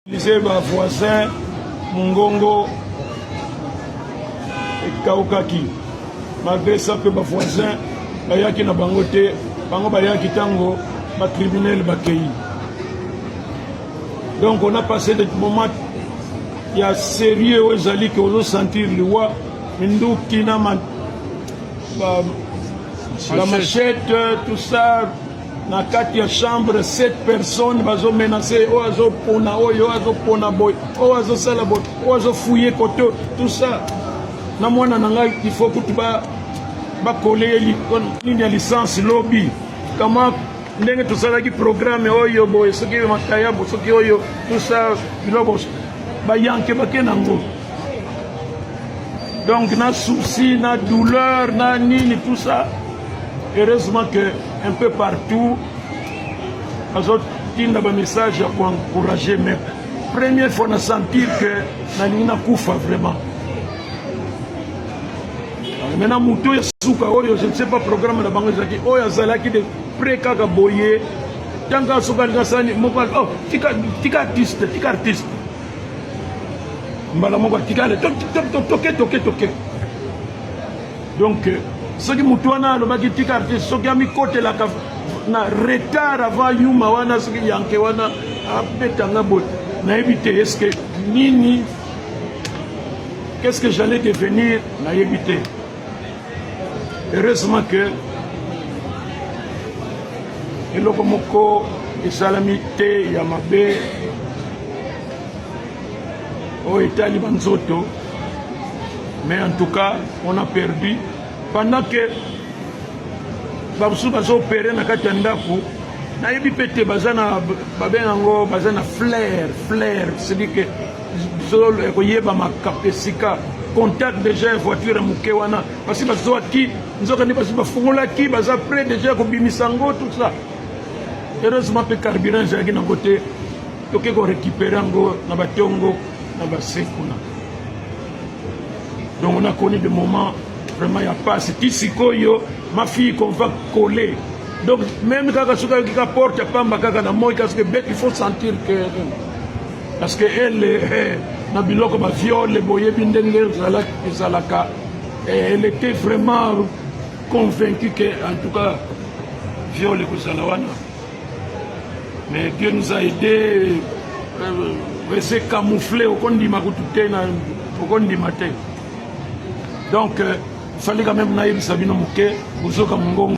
Lise ba voisin mongongo ekaukaki malgré ça mpe ba voisin bayaki na bango te bango bayaki ntango ba criminel bakei donc on a passé des moments ya sérieux oyo ezali ke ozosentir liwa minduki na ba, ba machette tout ça na kati ya chambre sept personnes bazo menace oyo azopona oyo azopona boye oyo azosala boye oyo azofouye kote tout ça na mwana na ngai il faut kutu bakole ye nini ya licence lobi kama ndenge tosalaki programme oyo boye soki makayabo soki oyo tout ça biloko bayanke bake nango donc na souci na douleur na nini tout ça heureusement que un peu partout azotinda bamessage ya koencourage mais première fois na sentir que nalingi nakufa vraiment maintenant moto oyo esuka oyo je ne sais pas programme na bango ezalaki oyo azalaki de près kaka boye ntango asoki alinga sani moko oh, tika artiste tika artiste mbala moko atikale toke toke toke donc euh, soki motu wana alobaki tika te soki amikotelaka na retard avant yuma wana soki yanke wana abetanga boye nayebi te eske nini qu'est ce que j'allais devenir nayebi te heureusement que eloko moko esalami te ya mabe oyo etali banzoto mais en tout cas on a perdu pendant que bamosusu bazoopere na kati ya ndako nayebi mpe te baza na babenga yango baza na flair flair sedike zolo ekoyeba makape esika contact deja ya voiture ya moke wana basi bazwaki nzoka nde basi bafungolaki baza près deja ya kobimisa yango tout ça heureusement mpe carburant ezalaki nango te toke korécupere yango na batongo na base kuna donc on a connu de moment vraiment ya pasi ti sikoyo ma fille qu'on va coller donc même kaka soki ayoki ka porte ya pamba kaka na moi kasuki bete il faut sentir que Parce que elle na biloko ba viole boyebi ndenge ezalaka elle était vraiment convaincue que en tout cas viole ekozala wana mais Dieu nous a aidé euh, ese camoufle okondima kutu te na okondima te donc euh, fallait quand même nayebisa bino moke bozoka mongongo